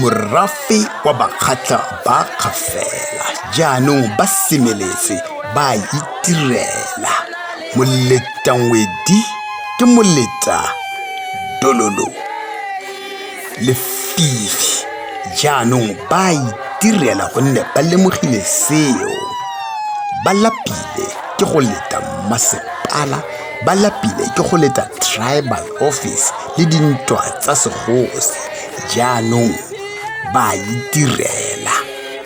morafe wa bakgatlha ba kgafela jaanong ba semeletse ba itirela moletangwedi ke moleta dololo lefifi jaanong ba a itirela gonne ba lemogile seo ba lapile ke go leta mmasepala ba lapile ke go leta tribal office le dintwa tsa segosi jaanong ba a itirela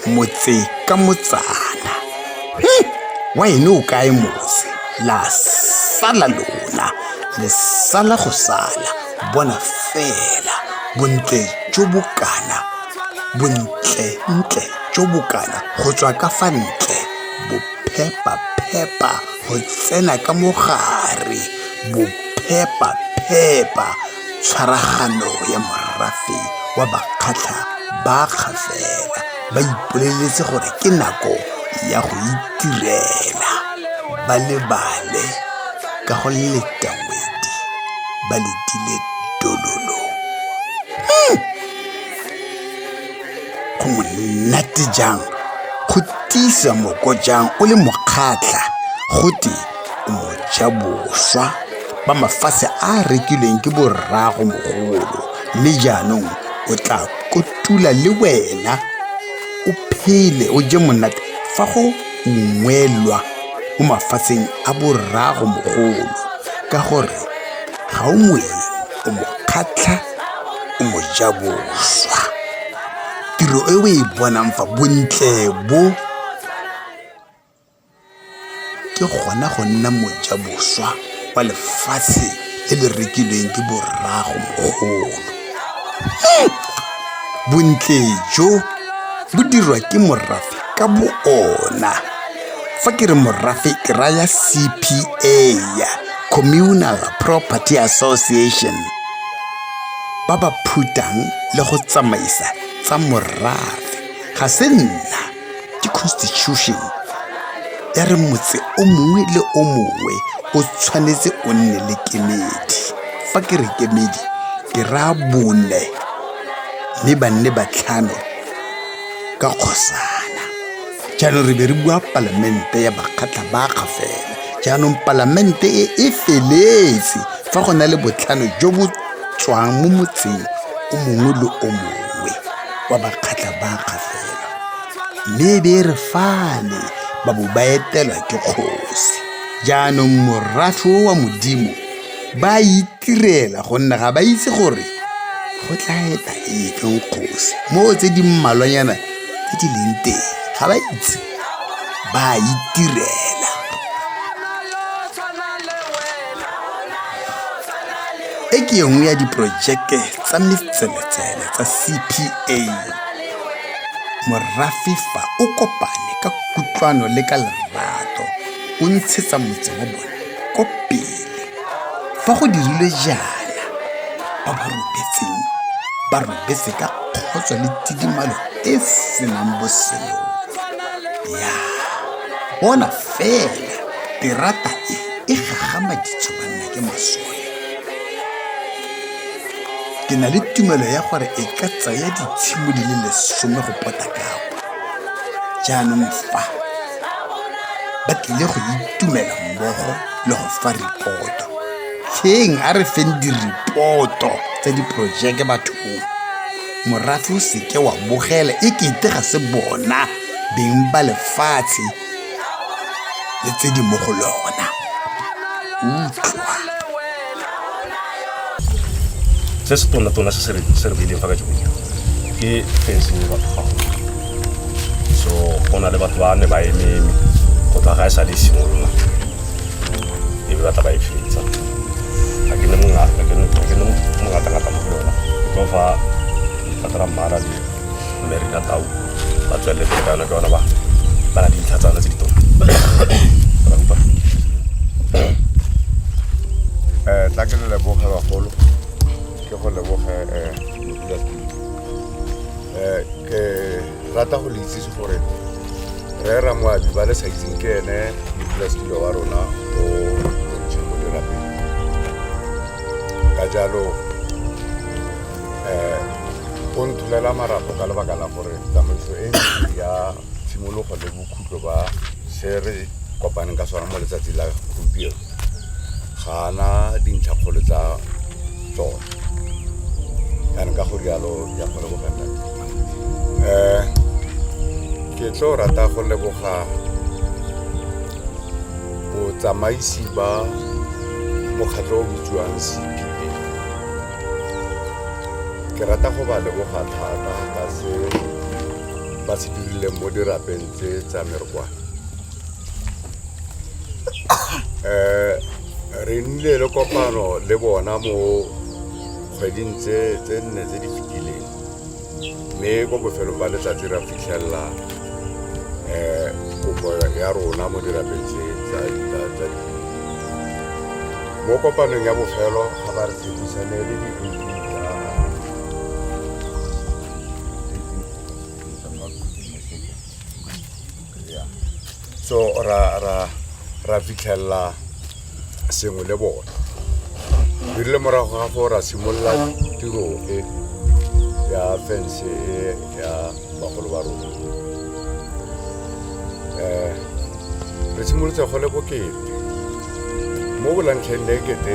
motse ka motsana hmm, wa ene o kae motse la sala lona le sala go sala Bona fela bontle jo bo kana, bontle-ntle jo bo kana go tswa ka fa ntle, bophepa-phepa go tsena ka mo gare, bophepa-phepa tshwaragano ya morafe wa bakgatlha ba kgafela ba ipoleletse gore ke nako ya go itirela ba lebale ka go leta ngwedi. ba letile dololo hmm. go monate jang go tiisa moko jang o le mokgatlha go te o moja boswa ba mafatshe a rekilweng ke borrago mogolo mme jaanong o tla kotula le wena o phele o je monate fa go ungwelwa mo mafatsheng a borrago mogolo ka gore ga o moeng o mo kgatlha o mo ja boswa tiro e o e bonang fa bontle bo ke gona go nna moja boswa wa lefatshe le le rekilweng ke borrago mogolo bontle jo bo dirwa ke morafe ka bo ona fa ke re morafe ke raya cpa ya communal property association ba ba phutang le go tsamaisa tsa morafe ga se nna ke constitution ya re motse o mongwe le o mongwe o tshwanetse o nne le kemedi fa ke re kemedi ke raya bone mme ba nne batlhano ka kgosana jaanong re be re bua palamente ya bakgatlha bakga fela jaanong palamente e e feletse fa go na le botlhano jo bo tswang mo motseng o mongwe le o mongwe wa bakgatlha bakga fela Mme e be e re fale ba bo ba etelwa ke kgosi jaanong morafe o wa modimo ba itirela gonne ga ba itse gore go tla eta ekeng kgosi moo tse di mmalwanyana tse di leng teng ga ba itse ba itirela e ke nngwe ya diporojeke tsa metseletsele tsa cpa morafe fa o kopane ka kutlwano le ka lerato o ntshetsa motse wa bone ko pele fa go dirilwe jaana ba ba robetseng ba robetse ka kgotso le tidimalo e senang boseo ya bona fela terata e e gagamaditswe banna ke masole ke na le tumelo ya gore e ka tsaya ditshimo di le lesome go pota kapa jaanong fa ba tlile go itumela mmogo le go fa ripoto tsheng a re feng diripoto tsa diporojeke bathong morafe o seke wa bogela e kete ga se bona beng ba lefatshe le tse di mo go lona utlwa se se tona-tona se se re- se re beileng fa ka jone ke fencing e batho gago so go na le batho ba ne ba ememe go tla ga e sa le e simolola e be batla ba e fetsa ga ke ne mongata ga ke ne mongata-ngata mo go yona ke tlo fa letlhatla la mmara le mme re ka tau ba tswelele pele ka yone ke yone ba ba na dintlha tsa yone tse di tona Ra utlwa? Eh, tla ke le leboge bagolo ke go leboge eh, modulasetulo Eh, ke rata go le itsise gore re ramoabi ba le sa itseng ke ene modulasetulo wa rona o montšha mo dirapeng ka jalo um o ntholela marapo ka lebaka la gore tsamaiso e ntsi ya tshimologo le bokhutlo ba se re kopaneng ka sona mo letsatsi la gompieno ga ana dintlha kgolo tsa tsone yanong ka go rialo ya go lebogela um ke tlo rata go leboga botsamaisi ba mokgatlho o bitsiwang cpa ke rata go ba leboga thata ka se ba se dirileng mo dirapeng tse tsa merokwana um re nnile le kopano le bona mo kgweding tse nne tse di fetileng mme ko bofelong ba letsatsi ra fitlhelela um kopo ya rona mo dirapeng tse tsa mo kopanong ya bofelo ga ba re tshepisane le so ra ra ra fitlhelela sengwe le bone di rile morago ga go ra simolola tiro e ya fence e ya bagolo ba rona um re simolotse go le bokete mo bolantlheng le ekete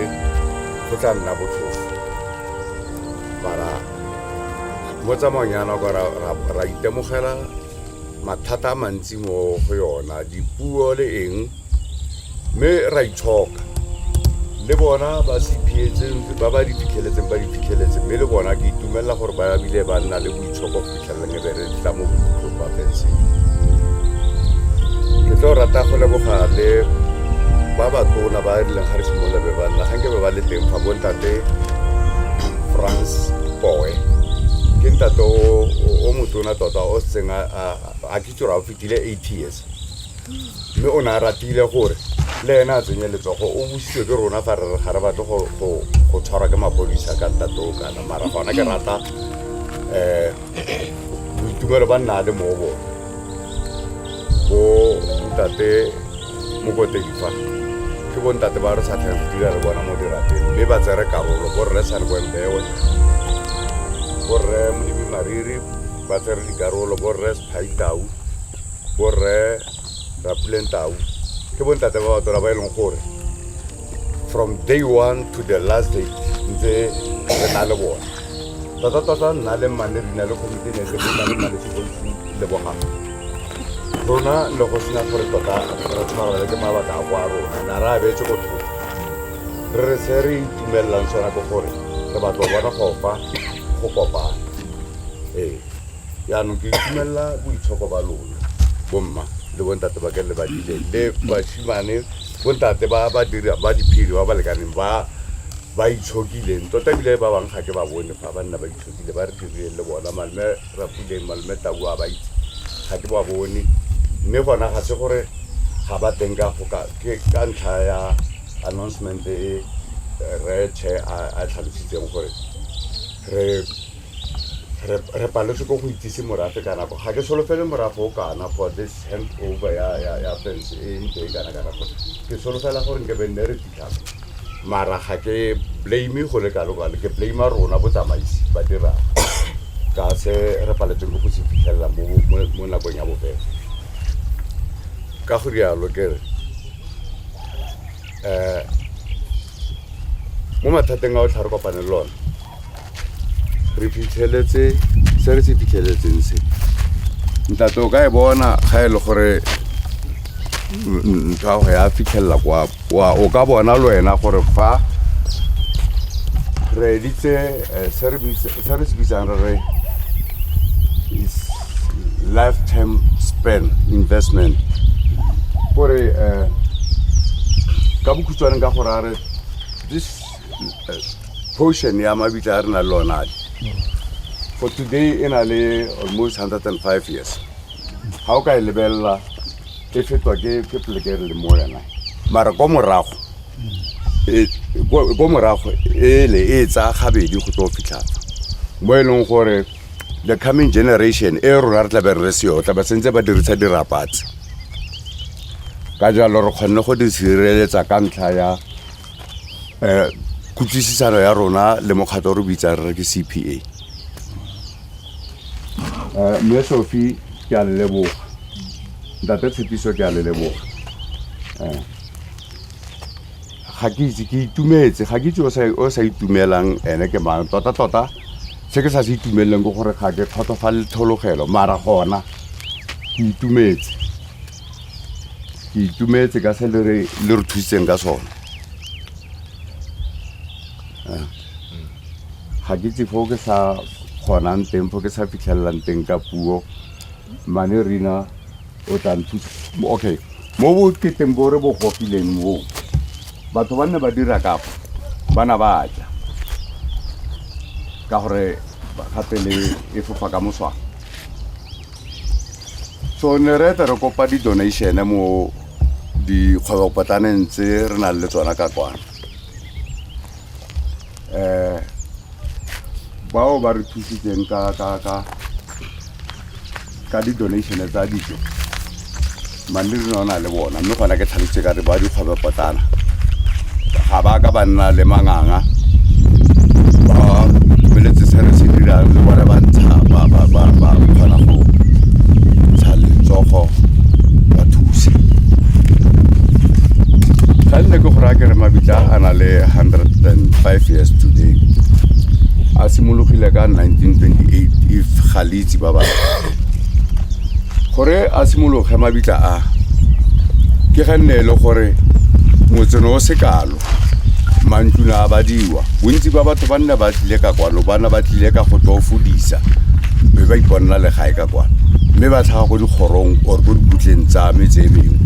go tla nna botlhofo bara mo tsamaong ya nako ra itemogela mathata a mantsi mo go yona dipuo le eng mme ra itshoka le bona ba se phietseng ba ba di fitlheletseng ba di fitlheletse mme le bona ke itumelela gore ba bile ba nna le boitshoko go fitlheleleng e be re tla mo bokhutlong ba fetseng ke tlo rata go leboga le ba ba tona ba e leng ga re simolola be ba nna ga nke be ba le teng fa bontate france boe ke ntate o motona ona tota o setseng a ke tsore o fetile eight years mme o ne a ratile gore le ene a tsenye letsogo o bositswe ke rona fa re re ga re batle go tshwarwa ke mapodisa ka ntatoo kana mara gona ke rata um boitumelo ba nna le mo bone bo ntate mokotedi fa ke bontate ba re sa tlhang go dira le bona mo dirapeng mme ba tsere karolo borre sa le boembewe borre modimi mariri ba tsere dikarolo borre sephaitau borre rapuleng tau ke bontate ba batona ba e leng gore from day one to the last day ntse re na le bone tota tota nna le mmane rina le commitee ne le le mmaletse bontsi lebogang rona le go sena gore tota re tshwarele ke mabaka a kwa rona na re abetse go thoko re re se re itumelelang sona ke gore re batlo bona gofa go kopana ee yaanong ke itumelela boitshoko ba lona bomma le bontate ba ke le badile le basimane bontate ba ba dira ba diphiri ba ba lekaneng ba ba itshokileng tota ebile ba bangwe ga ke ba bone fa ba nna ba itshokile ba re dirile le bona malme Rrapule malome Tabu a ba itse ga ke ba bone mme gona ga se gore ga ba teng ka goka ke ka ntlha ya announcement e re che a tlhalositseng gore re re paletswe ko go itsise morafe ka nako ga ke solofele morafe o kana for this hand over ya ya ya fence e ntse e kana kana gore ke solofela gore nke be nne re fitlhang mara ga ke blame go le kalo kalo ke blame rona botsamaisi ba dirang ka se re paletseng ke go se fitlhelela mo nakong ya bofela ka go rialo ke re um mo mathateng a o tlha re kopane le lone re fitlheletse se re se fitlheletseng se ntate o ka e bona ga e le gore ntho ya go ya fitlhelela kwa o ka bona le wena gore fa re editse eh, se re se bitsang re re lifetime span investment gore um ka bokhutshwaneng ka gore a re this portion ya mabitla a re na le onale for today e na le almost 105 years ga o ka e lebelela e fetwa ke ke poleke re le mo yona mara ko morago e- ko ko morago ele e tsaya gabedi go tlo fitlhatsa mo e leng gore the coming generation e rona re tlabe re seyo tlabe sentse ba dirisa dirapatse ka jalo re kgonne go di sireletsa ka ntlha ya um kutlwisisano ya rona le mokgatlho o re bitsang re ke c p a um eh, mme sofi ke a leleboga ntate tshepiso ke a leleboga um eh, ga ke itse ke itumetse ga ke itse o sa itumelang ene ke mang tota tota se ke sa se itumeleleng ke gore ga ke kgotsofale tlhologelo mara gona ke itumetse ke itumetse ka se le re le re thusitseng ka sone Eh, ga ke tse fo ke sa kgonang teng fo ke sa fitlhelelang teng ka puo mane rena o tla nthusa okay mo boketeng bo re bo gofileng mo batho ba nne ba dira kapo ba na ba ja ka gore ba- gape le e fofa ka moswana so ne re ete re kopa di-donation mo dikgwebopotlaneng tse re nang le tsona ka kwana um bao ba re thusitseng ka di-donation tsa dijo manne re ne na le bona mme gona ke tlhalositse ka re ba dikgwebe potlana ga ba ka ba nna le manganga ba feletse se re se dirang le bone ba ntsha ba ba ba ba kgona go ntsha letsogo ba thuse ga nne ke gore a ke re mabitla a na le 105 years today a simologile ka 1928 if ga le itse ba ba gore a simologe mabitla a ke ga nne e le gore motseno o se kalo mantluna a badiwa bontsi ba batho ba nna ba tlile ka kwano bana ba tlile ka go tlo fodisa mme ba iponela legae ka kwano mme ba tlhaga go dikgorong or ko dikutleng tsa me tse mengwe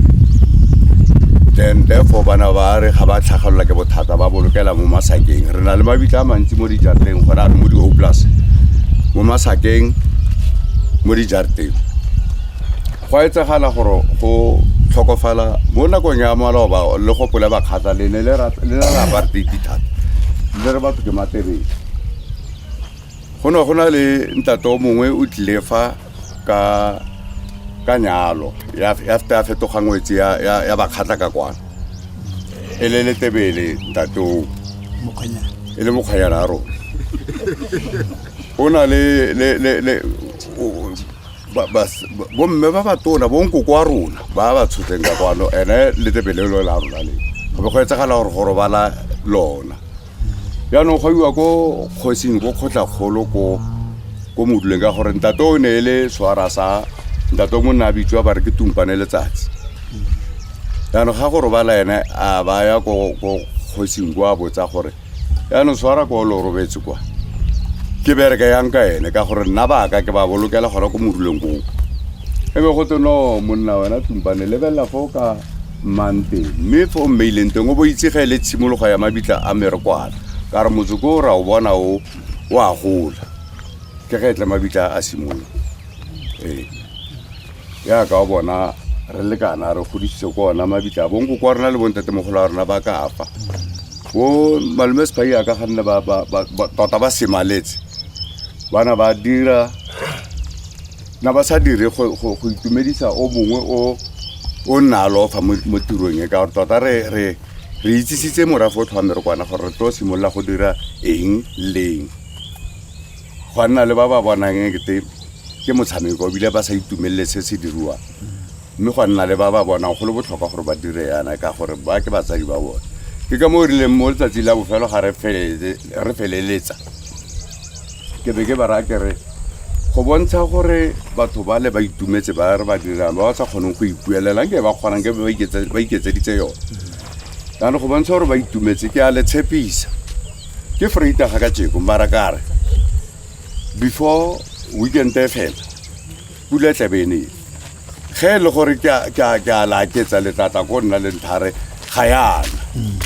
then therefore bana ba re ga ba tlhagelela ke bothata ba bolokela mo masakeng re na le mabitla a mantsi mo dijarateng gore a re mo di-oplus mo masakeng mo dijarateng go a etsagala gore go tlhokofala mo nakong ya maloba le go pole bakgata le ne le ra apartheid thata le re batho ke matebele go ne go na le ntate o mongwe o tlile fa ka ka nyalo ya ya feta ya fetoga ngwetse ya ya, ya bakgatla ka kwana e le letebele ntate o mokgwanyana e le mokgwanyana a rona o na le le le le o- ba- bas- ba- bomme ba batona bonkoko wa rona ba ba tshotseng ka kwano ene letebele lo la rona le go be go etsagala gore go robala lona jaanong go iwa ko kgosing ko kgotlakgolo ko ko moduleng ka gore ntate o ne e le swara sa ntate o monna a bitswa ba re ke tumpane letsatsi jaanong ga go robala ene a ba ya ko kgosing ko a botsa gore jaanong swara ko lo robetse kwa ke bereke yang ka ene ka gore nna baka ke ba bolokela gona ko moduleng koo e be go tse no monna wena tumpane lebelela fo ka mmanteng mme fa o mmeileng teng o bo itse ga e le tshimologo ya mabitla a merekwala ka re motsoko o ra o bona o o a gola ke ge e tle mabitla a simolola ee yaka o bona re lekana re godisitse ko ona mabitla a bonko kwa rona le bontatemogolo a rona ba ka fa bo malome sepai a ka ganne tota ba semaletse bana ba dira na ba sa dire go itumedisa o mongwe o o nna alofa mo tirong e ka gore tota re re re itsisitse morafe o tlhwame re kwana gore re tlo simolola go dira eng leng go nna le ba ba bonang ekete ke motshameko ebile ba sa itumelele se se diriwang mme gwa nna le ba ba bonang go le botlhokwa gore ba dire yana ka gore ba ke batsadi ba bone ke ka mo o rileng mo letsatsi la bofelo ga re feleletsa ke be ke ba raya kere go bontsha gore batho ba le ba itumetse ba re ba dirang ba ba sa kgoneng go ipuelelang ke ba kgonang ke ba iketseditse yone jaanong go bontsha gore ba itumetse ke a le tshepisa ke freita ga ka jeko mara kare before weekend e fela pula e tlabe e nele ge e le gore ke a- ke a ke a laketsa letlatla ko nna le ntlhare ga yana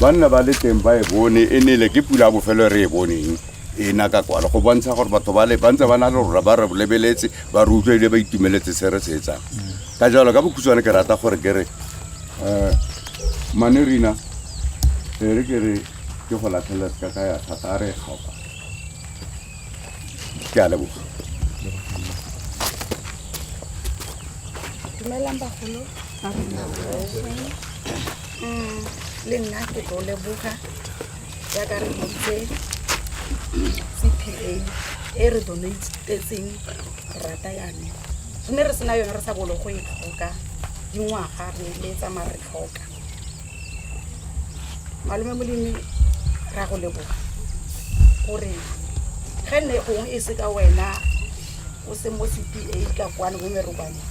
banna ba le teng ba e bone e nele ke pula ya bofelo e re e boneng e na ka kwalo go bontsha gore batho ba le ba ntse ba na le rona ba re lebeletse ba re utlwa ebile ba itumeletse se re se etsang ka jalo ka bokhutshwane ke rata gore ke re um mane rina e re ke re ke go latlhelela ka ka ya thata a re e kgaoka ke a leboga dumelang bagolo Mm, le nna ke tlo leboga jaaka re botse cpa e re donatetseng rata yane gone re sena yone re sa bolo go e tlhoka dingwaga re letsa ma re tlhoka malome molemi ra go leboga gore ge nne gongwe e se ka wena o se mo cpa ka kwane bo merobane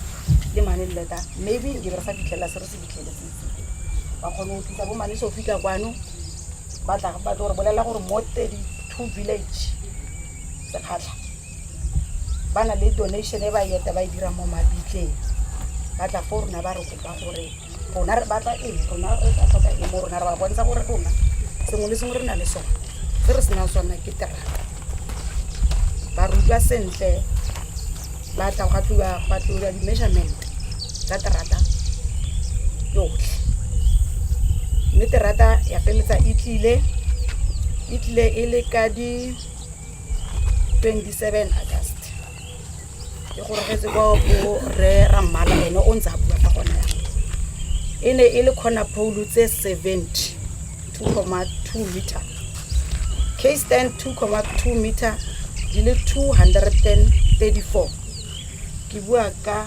le mane leta maybe ke re sa fitlhelela se re se fitlheletse ba kgone go tlisa bo mane sofi ka kwano ba tla ba tlo re bolelela gore mo thirty two village sekgatlha ba na le donation e ba e eta ba e dirang mo mabitleng ba tla fo rona ba re kopa gore rona re batla eng rona re tla tlhoka eng mo rona re ba bontsha gore rona sengwe le sengwe re na le sone se re senang sone ke terata ba re utlwa sentle ba tla ga tliwa ba tliwa di-measurement tsa terata yotlhe mme terata ya peletsa e tlile e tlile e le ka di 27 august ke gorogetse kwa go re rammala ene o ntse a bua ka gona ya e ne e le kgona phoulo tse 70 2,2 meter case stand 2,2 meter di le 234 ke bua ka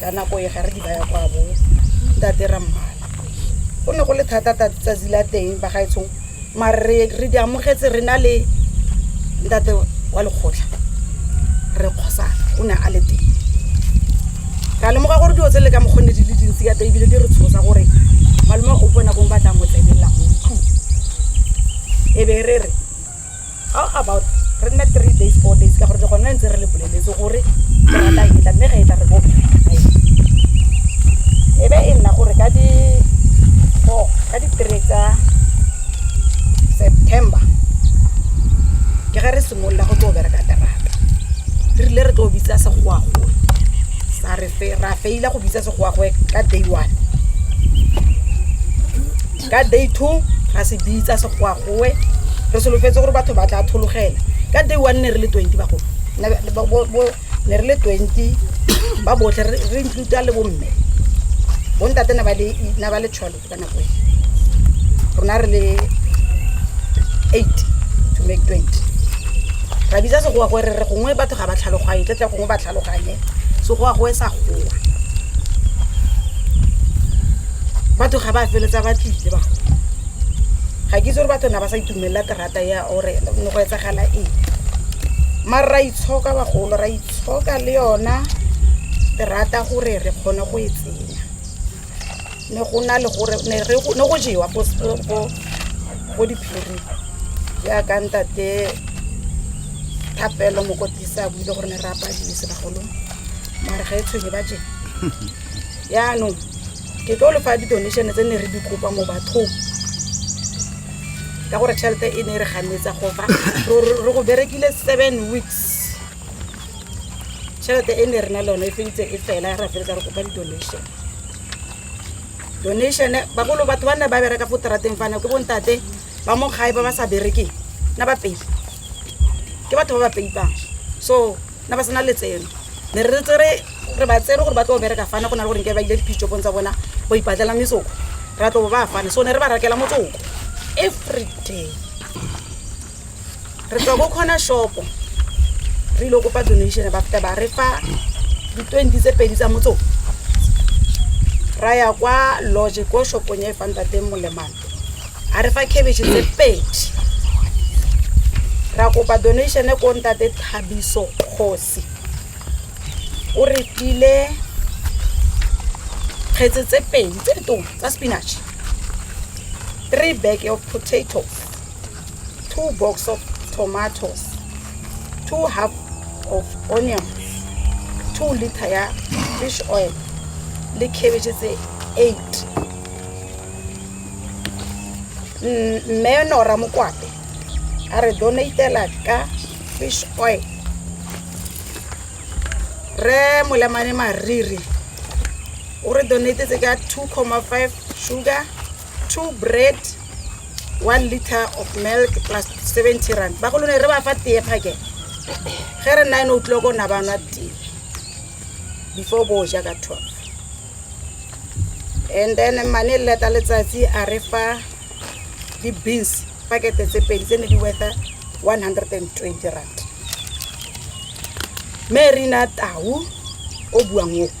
ka nako e ga re di baya kwa bo tate rammala go ne go le thata tsatsi la teng ba gaetsong mare re re di amogetse re na le ntate wa lekgotlha re kgosana o ne a le teng ka lemoga gore dilo tse le ka mokgonne di le dintsi ka teng ebile di re tshosa gore malome o bona kong ba tla mo tlebelela go tlong e be re re How about re nne three days, four days ka gore le gone ntse re le boleletse gore rata e tla mme ga e tla re bo e be e nna gore ka di four ka di three tsa September ke ga re simolola go tlo bereka terata re rile re tlo bitsa segoagoe sa re fe ra feila go bitsa segoagoe ka day one ka day two ra se bitsa segoago Gongwe re solofetse gore batho ba tla athologela. Ka day one ne re le twenty bagolo, ne re le twenty ba botlhe re include-a le bomme. Bontate ne ba le ne ba le twelve ka nako e, rona re le eight to make twenty. Ra bitsa Segowa gore re re gongwe batho ga ba tlhaloganye, tle tle gongwe ba tlhaloganye, Segowa gowe sa gowa. Batho ga ba feleletsa ba tlile bagolo. ga ke itse gore batho na ba sa itumelela terata ya ore ne go etsagala eng mare ra itshoka bagolo ra itshoka le yona terata gore re kgone go e tsenya ne go na le gore ne go jewa ko diphiri jaaka ntate thapelo mokotisa buile gore ne re apadise bagolo mare ga e tshwenye ba jeng yaanong ke tlo le fa di-donation tse ne re di kopa mo bathong ka gore tšhelete e ne e re ganetsa go fa re go berekile seven weeks tšhelete e ne re na le yone e feditse e fela ya ra feletsa re kopa di-donation donation bagolo batho ba nne ba bereka fo trateng fana ke bontate ba mo gae ba ba sa berekeng na ba peipa ke batho ba ba peipang so na ba sena letseno ne re tsere re ba tsere gore ba tlo bereka fana go na le gore nke ba ile dipitšopong tsa bona ba ipatlela metsoko ra tlo ba fane so ne re ba rakela motsoko every day re tswa ko kgona shopo re ile kopa donation ba feta ba re fa di-twenty tse pedi tsa motsoko ra ya kwa lodge ko shopong ya e fanta teng molemane a re fa cabbage tse pedi ra kopa donation ko ntate thabiso kgosi o re tlile kgetse tse pedi tse ditong tsa spinach three bag of potato two box of tomatoes two half of onion two liter ya fish oil le cabbage tse eight mme nora mokwape a re donatela ka fish oil re molemane mariri o re donatetse ka two comma five sugar two bread one liter of milk plus seventy rand ba go lone re ba fa tee phake ge re nine o'clock o na ba nwa tee before bo ja ka twelve and then mane leta letsatsi a re fa di-beans pakete tse pedi tse ne di wetha one hundred and twenty rand me re na tau o buang o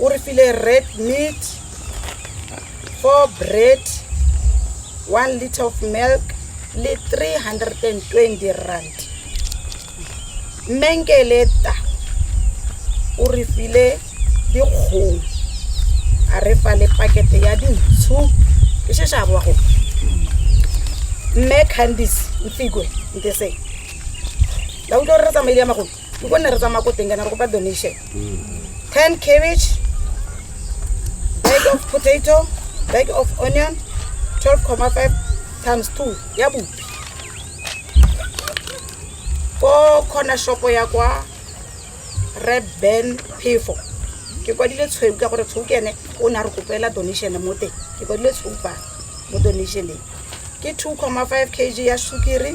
o re file red meat four bread one liter of milk le 320 rand mmenkeleta o re file dikgong a re fa le pakete ya dintshu ke shesha a boa go mme candice mfikwe ntese la utlwa re re tsamaile ya magolo ke gonne re tsamaya ko teng kana re kopa donation ten cabbage bag of potato bag of onion 12,5 times 2 ya bopi ko corner shopo ya kwa red ben phefo ke kwadile tshweu ka gore tshweu ke ene o ne a re kopela donation mo teng ke kwadile tshweu fa mo donationeng ke 2,5 kg ya sukiri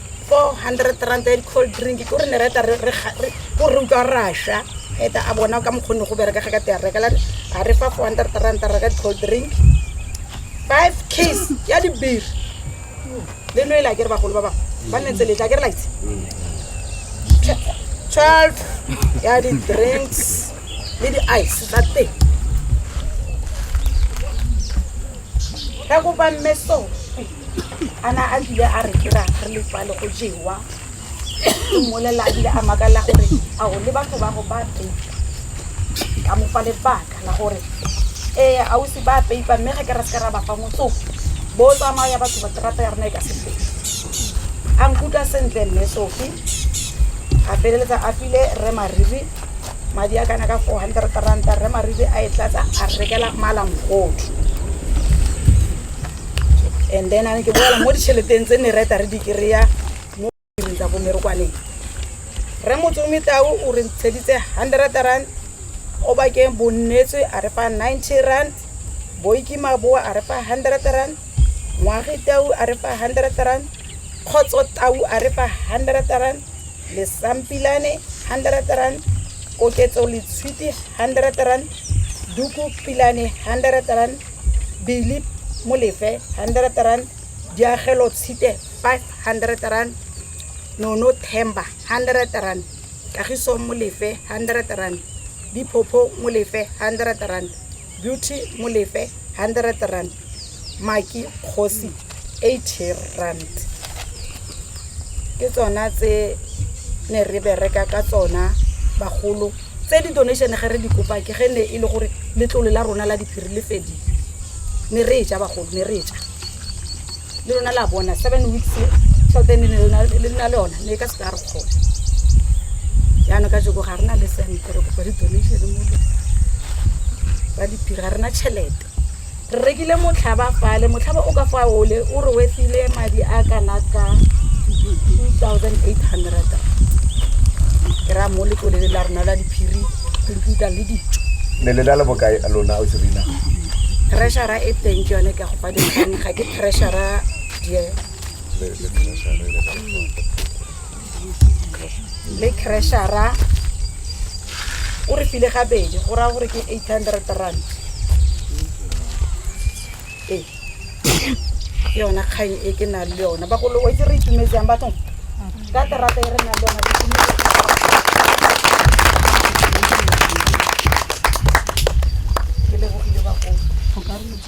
400 rand and cold drink ke gore ne re eta re ko re utlwa rasha eta a bona ka mokgone go bereka ga ka te a rekela a re fa 400 rand reka cold drink 5 case ya di beer le no ila ke re bagolo ba ba ba ne tsele tla ke re like 12 ya di drinks le di ice tsa teng ka go ba mmeso a na a bile a re kera re le fale go jewa o mmolelela a bile a makalela gore a o le batho ba go ba peipa ka mo fa lebaka la gore ee a o se ba peipa mme ga ke ra seka ra ba fa motsoko bo tsamaya batho ba terata ya rona e ka sepe a nkutlwa sentle mme sofi a feleletsa a file re mariri madi a kana ka four hundred ranta rre maribe a e tlatsa a rekela malamgodu and then a ne ke boela mo ditšheleteng tse ne reta re di kry-a mo diring tsa bomerokwaneng re motsomi tao o re ntsheditse hundred rand o bakeng bonnetswe a re fa ninety rand boikimaboa a re fa hundred rand ngwage tau a re fa hundred rand kgotso tau a re fa hundred rand lesampilane hundred rand koketso letshwiti hundred rand duku pilane hundred rand bili molefe hundred rand diagelo tshite five hundred rand nono themba hundred rand kagiso molefe hundred rand diphopho molefe hundred rand Beauty mo lefe hundred rand maki kgosi eighty rand ke tsona tse ne re bereka ka tsona bagolo tse di donation ge re di kopa ke ge ne e le gore letlole la rona la diphiri le fedile ne re e ja bagolo ne re e ja le lona la bona seven weeks tšhelete ne le na le yona ne e ka se ka re kgona jaanong ka jeko ga re na le sente re kopa di-donation mo ba diphiri ga rena tšhelete re rekile motlhaba fale motlhaba o ka fa ole o re wetsile madi a kana ka two thousand eight hundred ke raya mo letlolele la rona la diphiri computer le dijo ne le na le bokae lona o serina treasura e teng ke yone ke go ga ke pressure le crashera o re file gabedi go raya gore ke eight hundred rand ee ke yona kgang e ke nang le yona bagolo o itse re itumetsang bathong ka terata e re nang le yona ke lebogile bagolo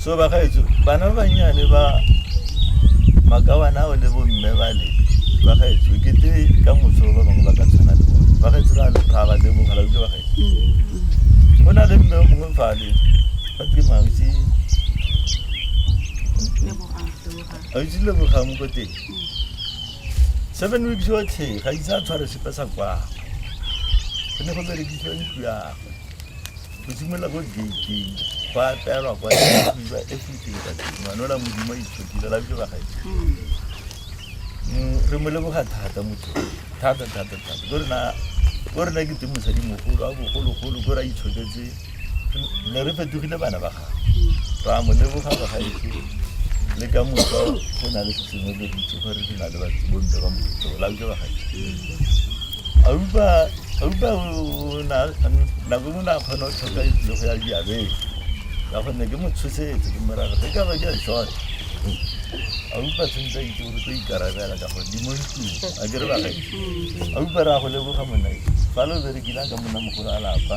so bagaetso bana ba bannyane ba makawana ao le bomme ba le bagaetso kete ka moso ba bangwe ba ka tshwana le bone bagaetso ra ga ba lebogala ke bagaetso mm. go na le mme o mongwe fale ba ke mautse autse lebogang ko teng mm. seven weeks yotlhe ga itse a tshware sepe sa kwagwe go ne go berekisiwa ntlo yagwe go simolola ko gating go apeelwa kwa iwa everything ka teng ngwana ola modimo a itshokile la bjo bagae mm, re mo leboga thata motho thata thata thata ko rena ke te mosadimogolo a bogologolo ko re a itshoketse ne re fetogile bana ba gago ra mo leboga ba gaetse le ka moka go na le sesengwe ke ditse gore ke na le bomme ba moto la ke ba gaetse aupa aupa nako e mona a kgona go tlhoka itsile go ya diabeng ka gonne ke motshosetse ke morago ge ka ba ke a short aupa sentse a itse gore tlo ikarabela ka gore di mo ntlong a ke re ba gaetse aupa re a go leboga monna fa lo berekile a ka monna mogolo a lapa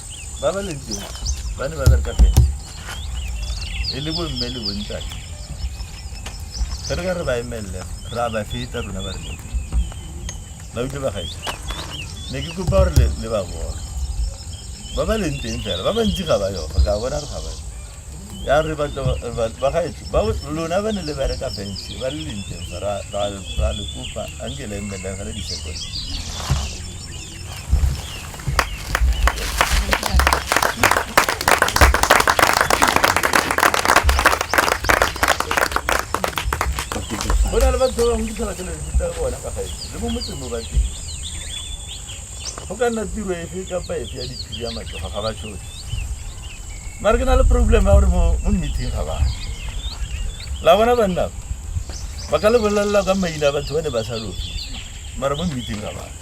ba ba leng teng ba ne ba bereka pente e le bomme le bontate ge re ka re ba emelele re a ba feta rona ba re leng ba utlwe bagaetsa ne ke kopa gore le- le ba bona ba ba leng teng fela ba bantsi ga ba yoga ka bona re ga ba ya re batla re ba- bagaetsho ba lona ba ne le bereka bense ba le lenteng fa ra ra- ra le kopa a nke le emelele ga le disekone go na le batho ba bangwe ditshwana tse ne di tsaya bona ka gae le mo motseng mo bateng go ka nna tiro efe kapa efe ya diphiri ya matsoga ga ba tshotse mare ke na le problem ya gore mo mo meeting ga bana la bona banna ba ka le bolelela ka maina a batho ba ne ba sa lofe mara mo meeting ga bana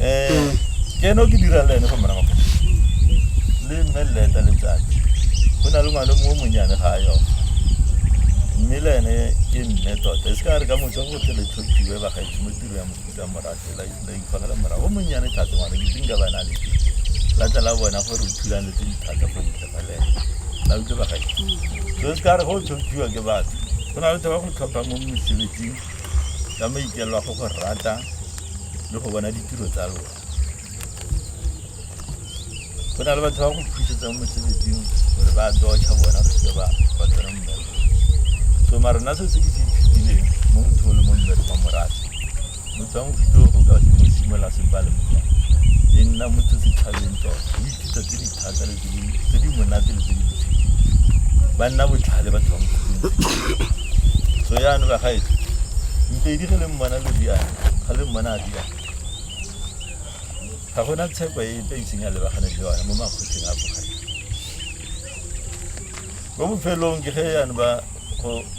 um ke ene o ke dirang le ene fa morago le mme leta letsatsi go na le ngwana mo monyane ga yo mme le ene ke mme tota e se ka re ka motsa go tle letlhophiwe bagaetsi mo tiro ya mofuta morafe la ikgogela morago o monnyane thata ngwana ke tinka ba na le ke la tla la bona gore o thulane tse di thata go ntle ga le ene la utlwe bagaetsi so e se ka re go tlhophiwa ke batho go na le tse ba go tlhopha mo mosebetsing ka maikelo a go go rata le go bona ditiro tsa lona go na le batho ba go phusetsang mosebetsing gore ba docha bona re seke ba ba tsena mmereko so mara nna se se ke se ithutileng mo motho o le mo mmereko wa morate motho wa mofuto o ka mo simolola sempale monyana e nna motho setšhabeng tota o ithuta tse di thata le tse di monate le tse di botlhale ba nna botlhale batho ba mokgweng so yaanong ba gaetso mpedi ge le mmona le riana ga le mmona a riana ga gona tsheko e epe iseng ya lebagane le yone mo makgotleng a bogale mo bofelong ke ge yaanong ba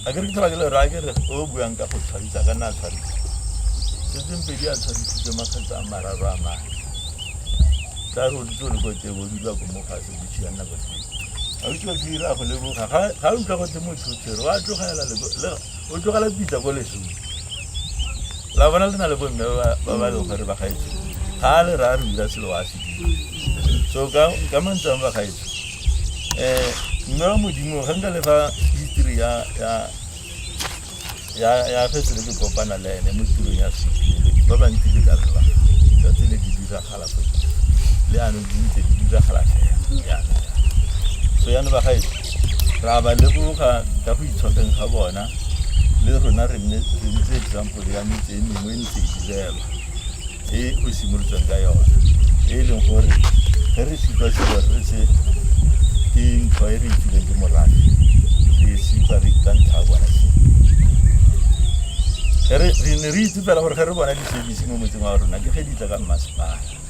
a ke re ke tlhola ke le raya ke re o buang ka go tshwarisa ka nna a tshwarisa setseng pedi a tshwarisitse makgetsa a mararo a mane tla re o ditse o le ko teng o dula ko mo fatshe botšhi ya nna ko teng a o itse ke ira go leboga ga ga o utlwa go tse motho o tshwere wa tlogela le go- le- o tlogela pitsa ko lesong la bona le na le bomme ba- ba ba leng gore ba gaetse ga a le raya re dira selo wa se dira so ka ka mantsang ba gaetse um mme wa modimo re nka le fa history ya ya ya ya ge tsele ke kopana le ene mo tirong ya sepele ba bantsi le ka re ba tsa tsele di diragala go le ano di ntse di diragala fela yana so yana ba gae ra ba leboga ka go itshokeng ga bona le rona re nne re ntse example ya metse e mengwe e ntse e direlwa e o simolotsweng ka yone e e leng gore ge re supa supa re se ke ntho e re itileng ke morane re e supa re ka ntlha bona re ne re itse fela gore ge re bona di-service mo motseng wa rona ke ge di tla ka mmasepala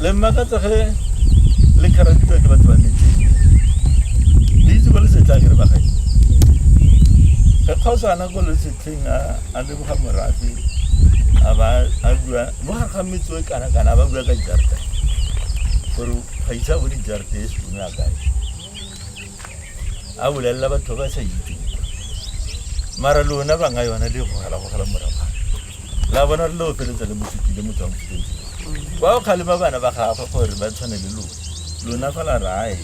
le mmakatsa ge le kharaditswa ke batho ba metseng le itse ko le setlang re bagae re kgaosana ko le setlheng a leboga morafe a ba a bua mo gare ga metso e kana kana a ba bua ka jarta gore ga isa bo dijarte e sone a kae a bolelela batho ba sa itseng mara lona banga yona le gogelagogela moraba la bona re le opeletsa le mosukile motswang foteng kwa o kgalema bana ba gagwe gore ba tshwane le lona lona fela rae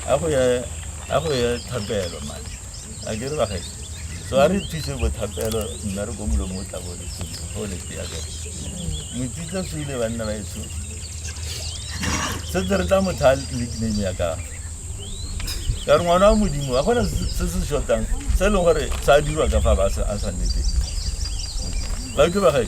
a go ya thapelo mane a ke re bage so a re phise bothapelo nna re ko molong o tla bone sentle go le tseya ka motsitsa se ile banna ba eso se tse re tla motha nickname ya ka ka re ngwana wa modimo a gona se se shotang se e leng gore sa dirwa ka fa ba a sa nnete ba ke bagae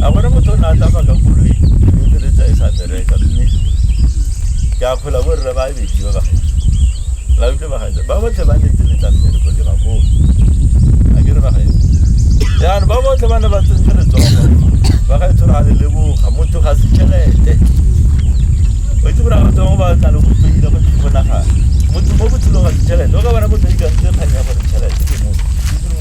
a gore motho o ne a tsamaya ka koloi o diretsa e sa bereka mme ke a kgola bo rre ba abedi ba bagae la utlwe bagae ba botlhe ba netse letla mmereko le bakoo a ke re bagae jaanong ba botlhe ba ne ba tsentse letsogo bagae tshore ga le leboga motho ga se tšhelete o itse gore batho bangwe ba tla le go tsoile go tshonagana motho mo botshelong ga se tšhelete o ka bona motho ikantse kgang ya gore tšhelete ke motho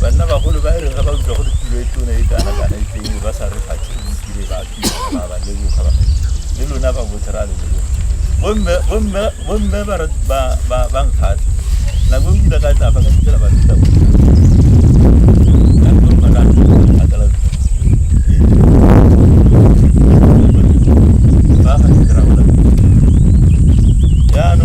banna bagolo ba re ga ba utlwa gore tulo e tona e kana kana e teng ba sa re fatshe mo tire ba ba ba le boga ba le lona ba botlhe ra le leboga bomme bomme bomme ba ba ba ba nkgata na go ngida ka tla fa ka tsela ba feta go na go ba ka ka tla ba ga ke ra bona ya no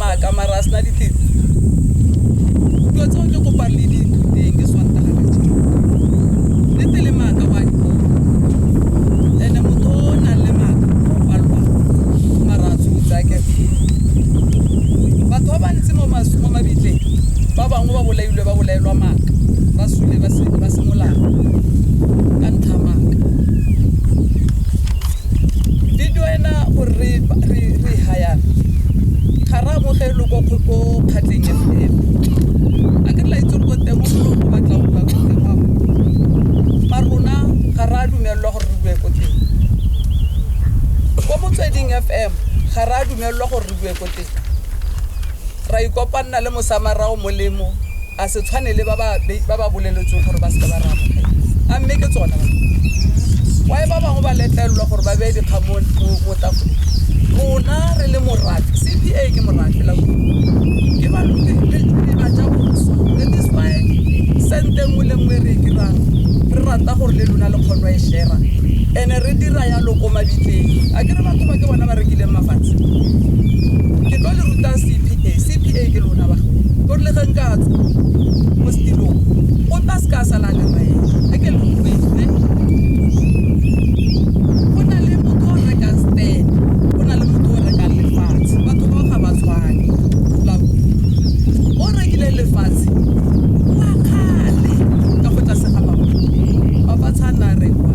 maaka mara a sena ditsela dilo tseo ke kopang le di ithuteng ke swantaga ka jeno le tele maaka wa dikolo ene motho o o nang le maaka o palwa mara a tshotsa ke batho ba bantsi mo mas- mo mabitleng ba bangwe ba bolailwe ba bolaelwa maaka ba sule ba se- ba semolao ka ntlha ya maaka di duela gore re re- re hayana ga re amogelwe ko ko- ko kgatleng ya fela a ke tla itse gore teng o go batla go bua ko teng wa mo ba rona ga re a dumelelwa gore re bue ko teng ko motsweding fm ga re a dumelelwa gore re bue ko teng ra ikopanna le mosamarao molemo a se tshwane le ba ba be- ba ba boleletsweng gore ba seke ba re amogela a mme ke tsona ba wae ba bangwe ba letlelelwa gore ba beye dikgang mo- mo- mo tafoleng rona re le morafe cpa ke morafe la ke ba lo- le- le- le ba ja boswa that is why sente nngwe le nngwe e re e dirang re rata gore le lona le kgono e shera ene re dira yalo ko mabitleng a ke re batho ba ke bona ba rekileng mafatshe ke tlo le ruta cpa cpa ke lona ba ko le ga nka tswa mo setirong o tla se ka sala ka mae a ke le kwetse go na le motho o rekang stand go na le motho o rekang lefatshe batho bao ga ba tshwane la utlwa. o rekile lefatshe wa kgale ka go tlase ga baba baba tshana rekwa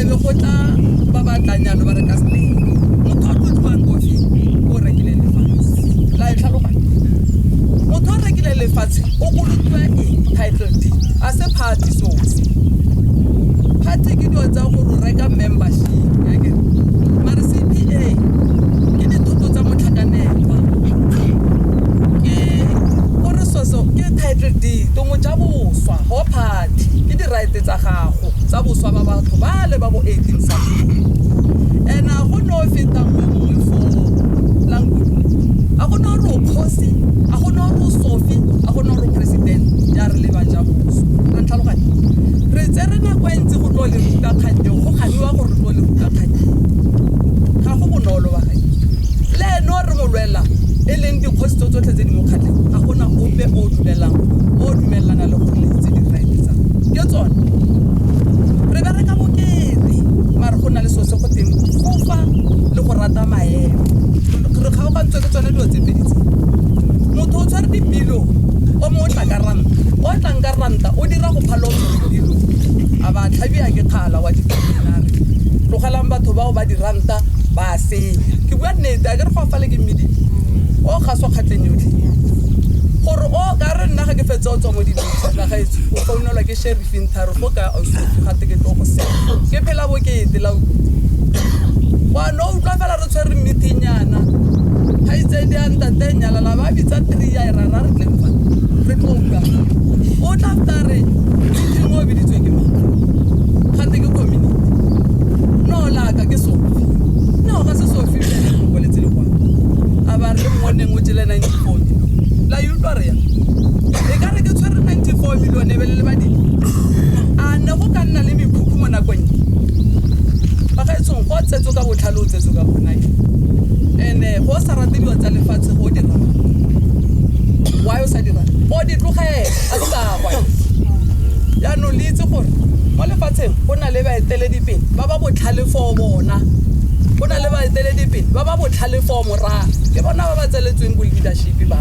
e be go tla ba batlanyalo ba reka stand motho a tlo tloang kofe o rekile la e tlhaloganya motho o rekile lefatshe o kolotiwa eng title deed a se party so party ke dilo tsa gore o reka membership yake mare cpa ke dithoto tsa motlhakanelwa ke gore soso ke title deed tongwe ja boswa go party ke di-right tsa gago tsa boswa ba batho ba le ba bo 18 something and a go no o fetang mme mongwe for language a go na gore o kgosi a go na gore o sofi a go na gore o president ya re leba ja boso a ntlhaloganye re tse re nako e ntse go tlo le ruta kgang eo go ganiwa gore re tlo le ruta kgang eo ga go bonolo ba gae le ene o re mo lwela e leng dikgosi tso tsotlhe tse di mo kgatlheng ga gona ope o dumelang o dumelelana le gore letse tse di raeletsang ke tsone re bereka bokete mare go na le so se teng kofa le go rata maemo re kgaogantswe ke tsone dilo tse pedi tse motho o tshware dipilo o mo o tla ka ranta o tlang ka ranta o dira go phala o dipilo a ba tlhabia ke kgala wa dipinare tlogelang batho bao ba diranta ba a senya ke bua nnete a ke re go afale ke mmedi o gaswa kgatleng yotlhe gore o ka re nna ga ke fetse o tswa mo dibese la gaetsho o founelwa ke sheri Pintharo go ka o se ga te ke tlo go se. Ke phela bo ke te la u. Wa no u tla fela re tshwere meeting yana. Ha itse di a ntate nyala la ba bitsa 3 ya ra ra re tle fa. Re tlo ka. O tla fta re ke mo biditswe ke mang. Ga te ke community. No la ka ke so. No ga se so fi le mo koletse le kwa. A ba re mo neng o tšele 94 la you rea e ka re ke tshwere 94 million e belele badile a ne go ka nna le mekhukhu mo nakong e ba ga e tshong go tsetso ka botlhale o tsetso ka gona e and-e go sa rate dilo tsa lefatshe go dira why o sa dira o di tlogele a di kakwa jaanong le itse gore mo lefatsheng go na le baeteledipele ba ba botlhale foo bona go na le baeteledipele ba ba botlhale foo moraa ke bona ba ba tseletsweng bo leadership ba